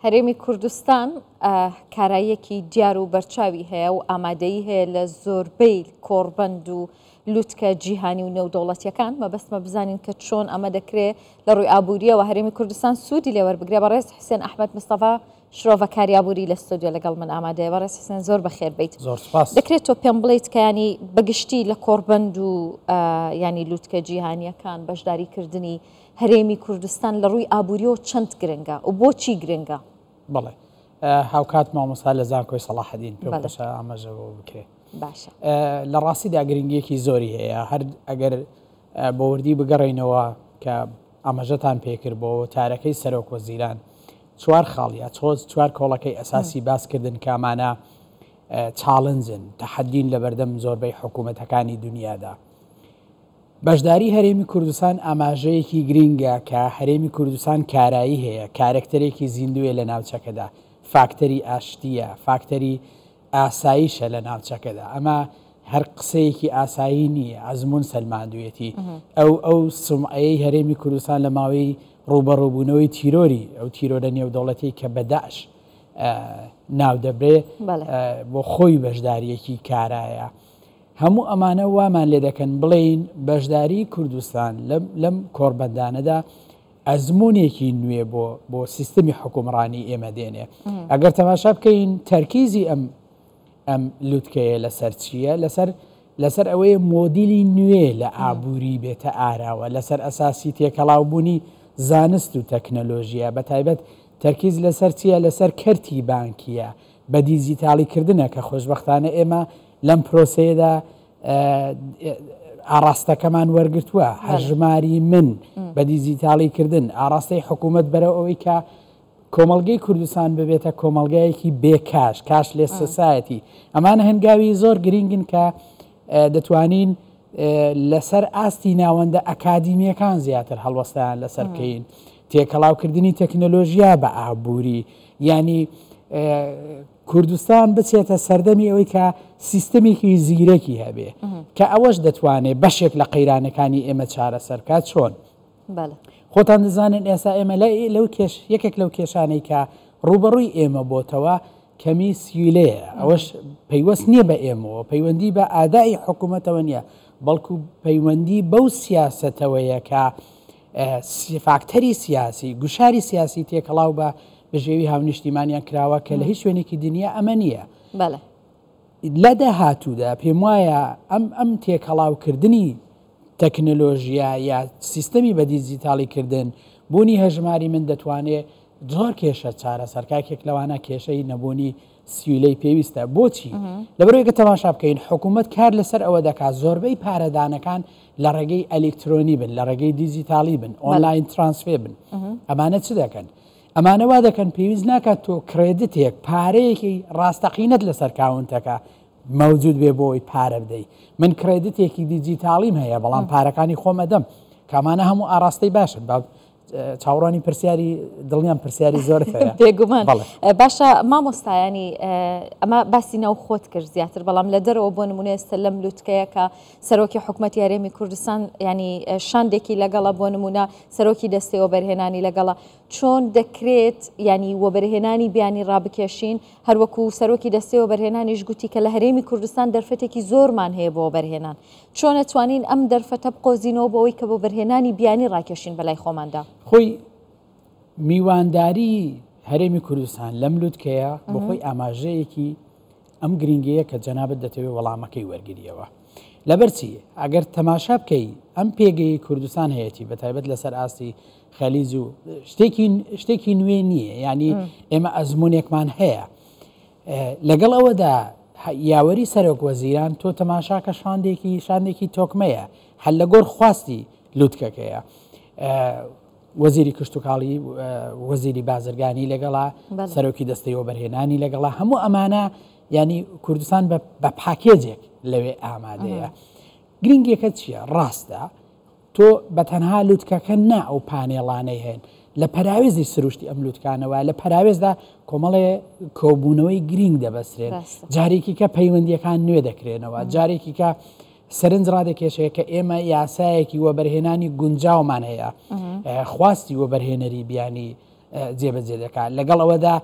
هەرێمی کوردستان کاراییەکی دیار و بەرچاوی هەیە و ئامادەیی هەیە لە زۆربەی کۆڕبەند و لوتکە جیهانی و نێودەوڵەتیەکان مەبەستمە بزانین کە چۆن ئەمە دەکرێ لە ڕووی ئابووریەوە هەرێمی کوردستان سوودی لێوەر بگرێ بە ڕێز حسێن ئەحمد مستەفا شرۆڤە کاریابووری لە ستۆدیۆ لەگەڵ من ئامادەیە بە ڕێز حسێن زۆر بەخێر بیت دەکرێت تۆ پێم بڵیت کەیانی بەگشتی لە کۆڕبەند و ینی لوتکە جیهانیەکان بەشداریکردنی هەرێمی کوردستان لە ڕووی ئابووریەوە چەند گرنگە و بۆچی گرنگە؟ بەڵێ هاوکات مامۆسا لە زانکۆی سەڵاحەدین پێ باشە ئاماژەوە بکرێت باشە لە ڕاستیدا گرنگیەکی زۆری هەیە هەر ئەگەر بە وردی بگەڕینەوە کە ئاماژەتان پێکرد بۆ وتارەکەی سەرۆک وەزیران چوار خاڵیا چۆز چوار کۆڵەکەی ئەساسی باسکردن کامانە چاڵنجن تەحەدین لە بەردەم زۆربەی حکوومەتەکانی دنیادا بەشداری هەرێمی کوردستان ئاماژەیەکی گرینگە کە هەرێمی کوردستان کارایی هەیە، کارەکتەرێکی زیندوویە لە ناوچەکەدا، فاکتەری ئاشتییە، فاکتەری ئاسایشە لە ناوچەکەدا، ئەمە هەر قسەیەکی ئاسایی نییە، ئەزموون سەلماندوویەتی، ئەو ئەو سومعەیەی هەرێمی کوردستان لە ماوەی ڕووبەڕووبوونەوەی تیرۆری، ئەو تیرۆرە نێودەوڵەتیەی کە بە داعش ناو دەبرێ، بۆ خۆی بەشدارییەکی کارایە. هەموو ئەمانە وامان لێ دەکەن بڵێین بەشداری کوردستان لەم کۆڕبەندانەدا ئەزمونێکی نوێ بۆ بۆ سیستمی حکومڕانی ئێمە دێنێ ئەگەر تەماشا بکەین تەرکیزی ئەم ئەم لوتکەیە لەسەر چییە لەسەر لەسەر ئەوەیە مۆدیلی نوێ لە ئابووری بێتە ئاراوە لەسەر ئەساسی تێکەڵاوبوونی زانست و تەکنەلۆژیە بە تایبەت تەرکیز لەسەر چییە لەسەر کەرتی بانکیە بە دیجیتاڵی کردنە کە خۆشبەختانە ئێمە لەم پرۆسەیەدا ئاراستەکەمان وەرگتووە هەژماری من بە دیجیتاڵی کردن ئاراستەی حکوومەت بەرە ئەوەی کە کۆمەلگەی کوردستان ببێتە کۆمەلگایەکی بێکاش کاش لێ سەسایەتی ئەمان هەنگاوی زۆر گرنگن کە دەتوانین لەسەر ئاستی ناوەندە ئەکادیمیەکان زیاتر هەڵوەستیان لەسەر بکەین تێکەڵاوکردنی تەکنەلۆژیا بە ئابووری یانی کوردستان بچێتە سەردەمی ئەوەی کە سیستمێکی زیرەکی هەبێ کە ئەوەش دەتوانێت بەشێک لە قەیرانەکانی ئێمە چارەسەرکە چۆن خۆتان دەزانن ئێستا ئێمە لە لەو کێش یەکێک لەو کێشانەی کە ڕوبەڕووی ئێمە بۆتەوە کەمی سیلەیە ئەوەش پەیوەست نییە بە ئێمەوە پەیوەندی بە ئادای حکوومەتەوە نییە بەڵکو پەیوەندی بەو سیاستەوەیە کە فاکتەری سیاسی، گوشاری سیاسی تێکەڵاو بە بژێوی هاونیشتیمانیان کراوە کە لە هیچ شوێنێکی دنیا ئەمە نییە. لە داهاتوودا پێم وایە ئەم ئەم تێکەڵاوکردنی تەکنەلۆژیا یا سیستەمی بە دیجیتاڵی کردن بوونی هەژماری من دەتوانێت زۆر کێشە چارەسەر کاکێک لەوانە کێشەی نەبوونی سیولەی پێویستە بۆچی لەبەرێکە تەماشا بکەین حکوومەت کار لەسەر ئەوە دەکات زۆربەی پارەدانەکان لە ڕێگەی ئەلکترۆنی بن لە ڕێگەی دیجیتالی بن ئۆنلاین ترانسفێ بن ئەمانە چ دەکەن ئەمانەوا دەکەن پێویست ناکات تۆ کرێدتێک پارەیەکی ڕاستەقینەت لەسەر کاونتەکە مەوجود بێ بۆی پارە بدەی من کرێدتێکی دیجیتاڵیم هەیە بەڵام پارەکانی خۆمەدەم کامانە هەموو ئاراستەی باشن باب چاوەڕوانی پرسیاری دڵنیام پرسیاری زۆر بێگومان باشە مامۆستایانی ئەمە باسی ناو خۆت کرد زیاتر بەڵام لە دەرەوە بۆ نمونە ئێستا لەم لوتکەیە کە سەرۆکی حکوومەت یارێمی کوردستان ینی شاندێکی لەگەڵە بۆ نمونە سەرۆکی دەستەوە بەرهێنانی لەگەڵە چۆن دەکرێت ینی وەبەرهێنانی بیانی ڕابکێشین هەروەکو سەرۆکی دەستەوە بەرهێنانیش گوتی کە لە هەرێمی کوردستان دەرفەتێکی زۆرمان هەیە بۆ بەرهێنان چۆن ئەتوانین ئەم دەرفەتە بقۆزینەوە بۆ ئەوەی کە وەبەرهێنانی بیانی ڕاکێشین بەلای خۆماندا؟ خۆی میوانداریی هەرێمی کوردستان لەم لوتکەیە بۆ خۆی ئاماژەیەکی ئەم گرنگەیە کە جەنابت دەتەوێت وەڵامەکەی وەرگریەوە لەبەرچی ئەگەر تەماشا بکەی ئەم پێگەی کوردستان هەیەی بە تایبەت لەسەر ئاستی خەلیز و شتێکی شتێکی نوێ نییە ینی ئێمە ئەزمونێکمان هەیە لەگەڵ ئەوەدا یاوەری سەرۆک وەزیران تۆ تەماشاکە شاندێکی شاندێکی تۆکمەیە هەل لە گۆر خواستی لوتکەکەیە وەزیری کشتتوکاڵی وەزیری بازرگانی لەگەڵا سەرۆکی دەستەی وەبەرهێنانی لەگەڵا هەموو ئەمانە ینی کوردستان بە پاکێجێک لەوێ ئامادەیە گرنگەکە چییە ڕاستە تۆ بە تەنها لوتکەکە نا ئەو پانێڵانەی هەن لە پەراوێزی سروشتی ئەم لوتکانە وایە لە پەراوێزدا کۆمەڵێ کۆبوونەوەی گرینگ دەبەسرێن بەستە جارێکی کە پەیوەندیەکان نوێ دەکرێنەوە مم. جارێکی کە سەرنج ڕادەکێشێ کە ئێمە یاسایەکی وەبەرهێنانی گونجاومان هەیە مم. ئە، خواستی وەبەرهێنەری بیانی ئە، جێبەجێ دەکات لەگەڵ ئەوەدا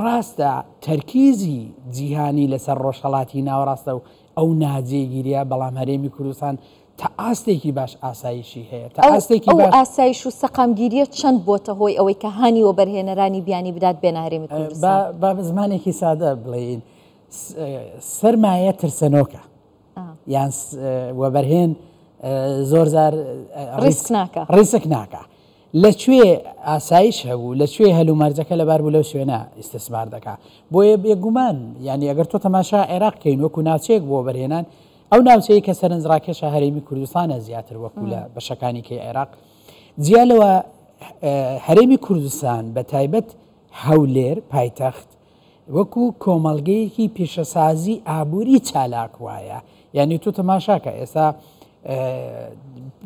ڕاستە تەرکیزی جیهانی لەسەر ڕۆژهەڵاتی ناوەڕاستە و ئەو ناجێگیرە بەڵام هەرێمی کوردستان تا ئاستێکی باش ئاسایشی هەیە، تا ئاستێکی باش. ئەو ئاسایش و سەقامگیرییە چەند بۆتە هۆی ئەوەی کە هانی وەبەرهێنەرانی بیانی بدات بێنە هەرێمی کوردستان؟ با بە زمانێکی سادە بڵێین، سەرمایە ترسەنۆکە. یان وەبەرهێن زۆرجار ڕیسک ناکا. لە کوێ ئاسایش هەبوو لە کوێ هەل و مەرجەکە لەبار بوو لەو شوێنە ئیستسمار دەکا بۆیە بێگومان یانی ئەگەر تۆ تەماشا عێراق کەین وەکو ناوچەیەک بۆ بەرهێنان ئەو ناوچەیە کە سەرنج ڕاکێشە هەرێمی کوردستانە زیاتر وەکو لە بەشەکانی کەی عێراق جیا لەوە هەرێمی کوردستان بە تایبەت هەولێر پایتەخت وەکو کۆمەڵگەیەکی پیشەسازی ئابوری چالاک وایە یعنی تۆ تەماشاکە ئێستا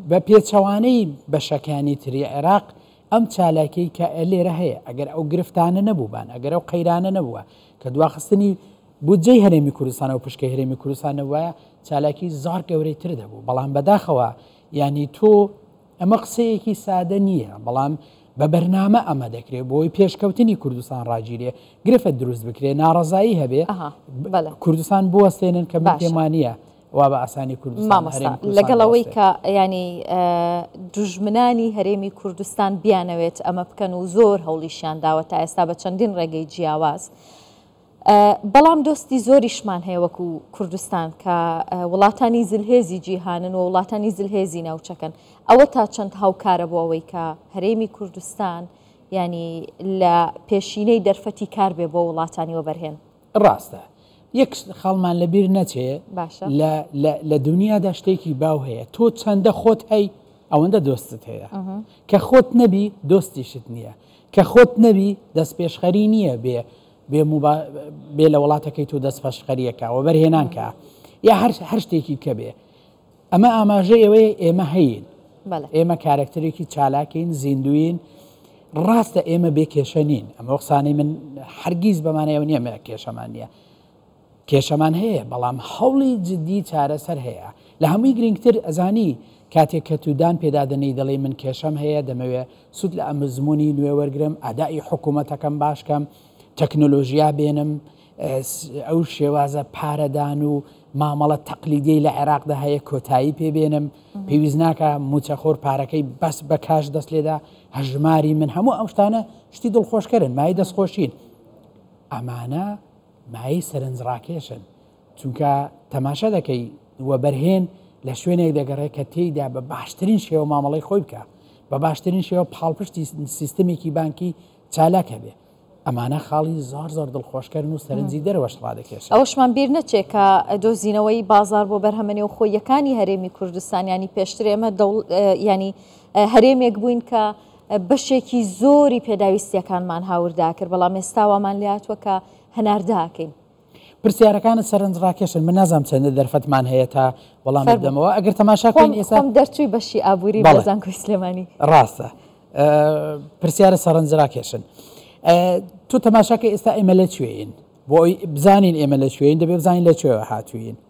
بە پێچەوانەی بەشەکانی تری عێراق ئەم چالاکی کە لێرە هەیە ئەگەر ئەو گرفتانە نەبووبان ئەگەر ئەو قەیرانە نەبووە کە دواخستنی بودجەی هەرێمی کوردستان و پشکە هەرێمی کوردستان نەوایە چالاکی زار گەورەی تر دەبوو بەڵام بەداخەوە ینی تۆ ئەمە قسەیەکی سادە نییە، بەڵام بە بەرنامە ئەمە دەکرێت بۆی پێشکەوتنی کوردستان ڕاگیرێ گرفت دروست بکرێ ناڕزایی هەبێ کوردستان بوەستێنن کە بەتێمانە وا بە ئاسانی کوردستان لەگەڵ ئەوەی کە ینی دژمنانی هەرێمی کوردستان بیانەوێت ئەمە بکەن و زۆر هەوڵیشیان داوە تا ئێستا بە چەندین ڕێگەی جیاواز. بەڵام دۆستی زۆریشمان هەیە وەکو کوردستان کە وڵاتانی زلهێزی جیهانن و وڵاتانی زلهێزی ناوچەکەن ئەوە تا چەند هاوکارە بۆ ئەوەی کە هەرێمی کوردستان ینی لە پێشینەی دەرفەتی کار بێ بۆ وڵاتانی وەبەرهێن ڕاستە یەک خاڵمان لەبیر نەچێ باشە لە دنیادا شتێکی باو هەیە تۆ چەندە خۆت هەی ئەوەندە دۆستت هەیە کە خۆت نەبی دۆستیشت نییە کە خۆت نەبی دەست پێشخەری نییە بێ بێ موبا بێ لە وڵاتەکەی تو دەست پەشخەریە کا وەبەر هێنان کا یا هەر هەر شتێکی کە بێ ئەمە ئاماژە ئێوەیە ئێمە هەین ئێمە کارکتەرێکی چالاکین زیندوین ڕاستە ئێمە بێ کێشە نین ئەمە قسانەی من هەرگیز بەمانەیەوە نیە مە کێشەمان نیە کێشەمان هەیە بەڵام هەوڵی جدی چارەسەر هەیە لە هەمووی گرینگتر ئەزانی کاتێ کە تو دان پێدادەنێی دەڵێی من کێشەم هەیە دەمەوێ سود لە ئەمزمونی نوێ وەرگرم ئەدائی حکومەتەکەم باش کەم تەکنۆلۆژیا بێنم ئەو شێوازە پارەدان و مامەڵە تەقلیدی لە عێراقدا هەیە کۆتایی پێ بێنم پێویست ناکە موچەخۆر پارەکەی بەس بە کاش دەست لێدا هەژماری من هەموو ئەم شتانە شتی دڵخۆشکەرن مای دەستخۆشین ئەمانە مایەی سەرنج ڕاکێشن چونکە تەماشا دەکەی وەبەرهێن لە شوێنێک دەگەڕێ کە تێیدا بە باشترین شێوە مامەڵەی خۆی بکە بە باشترین شێوە پاڵپشتی سیستمێکی بانکی چالاک هەبێ ئەمانە خاڵی زار زار دڵخۆشکردن و سەرنجی دەروەش ڕادەکێش ئەوشمان بیر نەچێت کە دۆزینەوەی بازار بۆ بەرهەمە نێو خۆیەکانی هەرێمی کوردستان ینی پێشترێمە ینی هەرێمێک بووین کە بەشێکی زۆری پێداویستیەکانمان هاوردا کرد، بەڵام ئێستا وامان لێهاتووە کە هەناردەکەین. پرسیارەکانت سەرنجڕاکێشن، من نازانم چەندە دەرفەتمان هەیە تا وەڵامت بدەمەوە، ئەگەر تەماشا بکەین ئێستا. خۆم دەرچووی بەشی ئابووری لە زانکۆی سلێمانی. ڕاستە، پرسیارە سەرنجڕاکێشن. تۆ تەماشا کە ئێستا ئێمە لە کوێین؟ بۆ ئەوەی بزانین ئێمە لە کوێین دەبێ بزانین لە کوێوە هاتووین.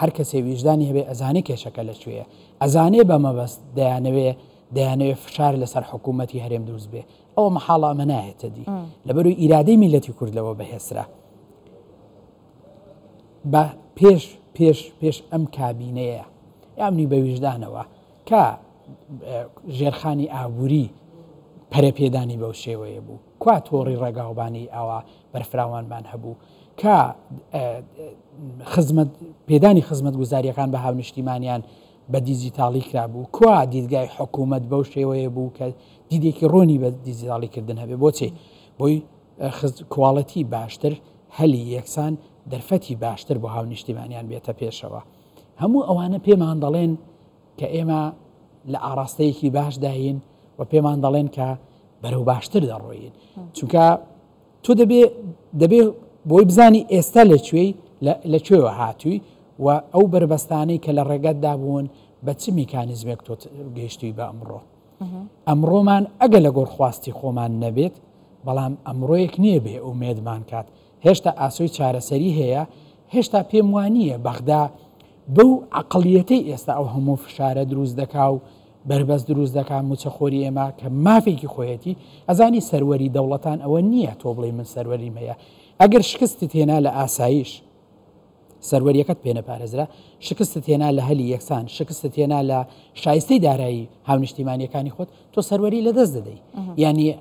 هەر کەسێ ویژدانی هەبێ ئەزانێ کێشەکە لە کوێیە، ئەزانێ بە مەبەست دەیانەوێ دەیانەوێ فشار لەسەر حکوومەتی هەرێم دروست بێ، ئەوە مەحاڵە ئەمە نایێتە دی، لەبەرووی ئیرادەی میللەتی کورد لەوە بەهێزترە. بە پێش پێش پێش ئەم کابینەیە یا منی بە ویژدانەوە کە ژێرخانی ئابووری پەرەپێدانی بەو شێوەیە بوو کوا تۆڕی ڕێگاوبانی ئاوا بەرفراوانمان هەبوو کە خزمەت پێدانی خزمەت گوزاریەکان بە هاونشتیمانیان بە دیجیتاڵی کرابوو کوا دیدگای حکوومەت بەو شێوەیە بوو کە دیدێکی ڕۆنی بە دیجیتاڵی کردن هەبێ بۆچێ بۆی کوواڵەتی باشتر هەلی یەکسان دەرفەتی باشتر بۆ هاونیشتیمانیان بێتە پێشەوە هەموو ئەوانە پێمان دەڵێن کە ئێمە لە ئاراستەیەکی باشداین و پێمان دەڵێن کە بەرەو باشتر دەڕۆین چونکە تۆ دەبێ دەبێ بۆی بزانی ئێستا لە کوێی لە کوێوە هاتووی و ئەو بەربەستانەی کە لە ڕێگەتدا بوون بە چ میکانیزمێک تۆ گەیشتوی بە ئەمڕۆ ئەمڕۆمان ئەگە لە گۆر خواستی خۆمان نەبێت بەڵام ئەمڕۆیەک نییە بێ ئومێدمان کات هێشتا ئاسۆی چارەسەری هەیە هێشتا پێم وانە بەغدا بەو عقلیەتەی ئێستا ئەو هەموو فشارە دروست دەکا و بەربەست دروست دەکا موچەخۆری ئێمە کە مافێکی خۆیەتی ئەزانی سەروەری دەوڵەتان ئەوە نییە تۆ بڵێ من سەروەریم هەیە ئەگەر شکستت هێنا لە ئاسایش سەروەریەکەت پێ نەپارێزرا شکستت هێنا لە هەلی یەکسان شکستت هێنا لە شایستەی دارایی هاونیشتیمانیەکانی خۆت تۆ سەروەری لە دەست دەدەی ینی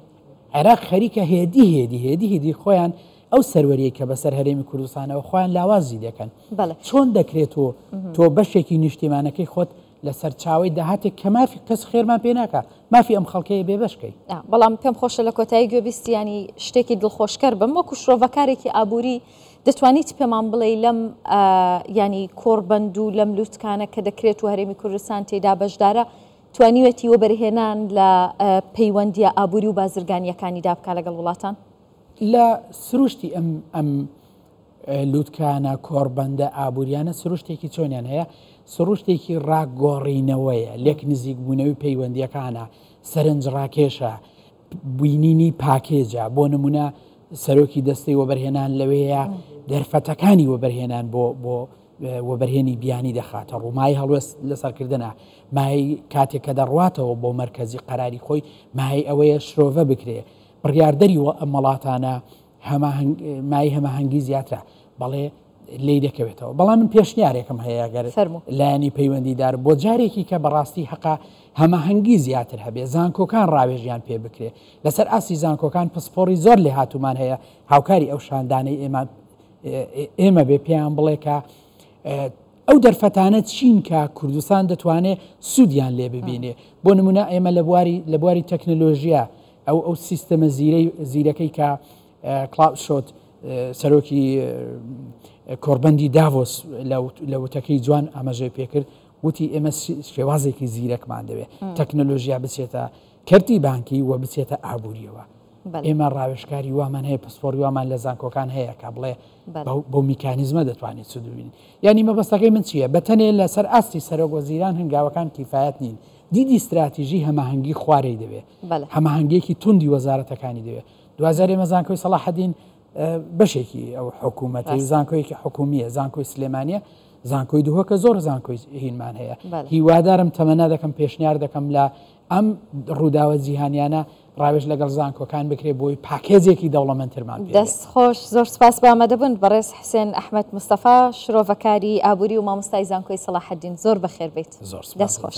عێراق خەریکە هێدی هێدی هێدی هێدی خۆیان ئەو سەروەریە کە بەسەر هەرێمی کوردستانەوە خۆیان لاوازی دەکەن چۆن دەکرێت و تۆ بەشێکی نیشتیمانەکەی خۆت لە سەرچاوەی داهاتێک کە مافی کەس خێرمان پێ ناکا مافی ئەم خەڵکەیە بێ بەش کەین. نا بەڵام پێم خۆشە لە کۆتایی گوێبیستیانی شتێکی دڵخۆشکەر بم وەکو شرۆڤەکارێکی ئابووری دەتوانی چ پێمان بڵێی لەم ینی کۆڕبەند و لەم لوتکانە کە دەکرێت و هەرێمی کوردستان تێدا بەشدارە توانیوێتی وەبەرهێنان لە پەیوەندیە ئابووری و بازرگانیەکانیدا بکە لەگەڵ وڵاتان؟ لە سروشتی ئەم ئەم لوتکانە، کۆڕبەندە ئابووریانە سروشتێکی چۆنیان هەیە؟ سروشتێکی ڕاگۆڕینەوەیە، لێک نزیکبوونەوەی پەیوەندییەکانە، سەرنجڕاکێشە، بینینی پاکێجە، بۆ نموونە سەرۆکی دەستەی وەبەرهێنان لەوەیە دەرفەتەکانی وەبەرهێنان بۆ بۆ وەبەرهێنی بیانی دەخاتە ڕوومای هەڵوێست لەسەرکردە مای کاتێک کە دەڕواتەوە بۆ مرکزی قەراری خۆی مای ئەوەیە شرۆڤە بکرێ بڕیاردەری وە ئەمەڵاتانە هەماهەنگ مای هەماهەنگی زیاترە بەڵێ لی دەکەوێتەوە بەڵام من پێشنیارێکم هەیە گەر لایەنی پەیوەندیدار بۆ جارێکی کە بەڕاستی حقا هەماهەنگی زیاتر هەبێ زانکۆکان ڕاوێژیان پێ بکرێ لەسەر ئاسی زانکۆکان پسپۆری زۆر لێ هاتومان هەیە هاوکاری ئەو شاندانەی ئێمە ئێمە بێ پێیان بڵێکە ئەو دەرفەتانە چین کە کوردستان دەتوانێت سوودیان لێ ببینێ بۆ نمونە ئێمە لە بواری لە بواری تەکنەلۆژیە ئەو ئەو سیستەمە زیرەکەی کە کلاوس شۆت سەرۆکی کۆربەندی داڤۆس لە وتەکەی جوان ئاماژەی پێکرد وتی ئێمە شێوازێکی زیرەکمان دەوێت تەکنەلۆژیا بچێتە کەرتی بانکی و بچێتە ئابوووریەوە ئێمە ڕاوێشکاری وامان هەیە پسپۆری وامان لە زانکۆکان هەیە کە بڵێ بۆ میکانیزمە دەتوانێت سودوین یعنی مەبەستەکەی من چییە بەتەنێ لەسەر ئاستی سەرۆک وەزیران هەنگاوەکان کیفاەت نین دیدی استراتیژی هەماهنگگی خوارەی دەوێت هەماهەنگیەکی توندی وەزارەتەکانی دەوێت دوجار ئێمە زانکۆی سەڵاحدین بەشێکی ئەو حکوومەتی زانکۆیەکی حکومیە زانکۆی سلێمانە زانکۆی دووەکە زۆر زانکۆی هینمان هەیە هیوادارم تەمەنا دەکەم پێشنیار دەکەم لە ئەم ڕووداوە جیهانیانە ڕاوێژ لەگەڵ زانکۆکان بکرێت بۆی پاکێزێکی دەوڵەمەندترمان دەست خۆش زۆر سپاس بامە دەبن بەڕێز حسێن ئەحمد مستەفا شرۆڤەکاری ئابووری و مامۆستای زانکۆی سەڵاحدین زۆر بەخێربیت زۆر دەست خۆش.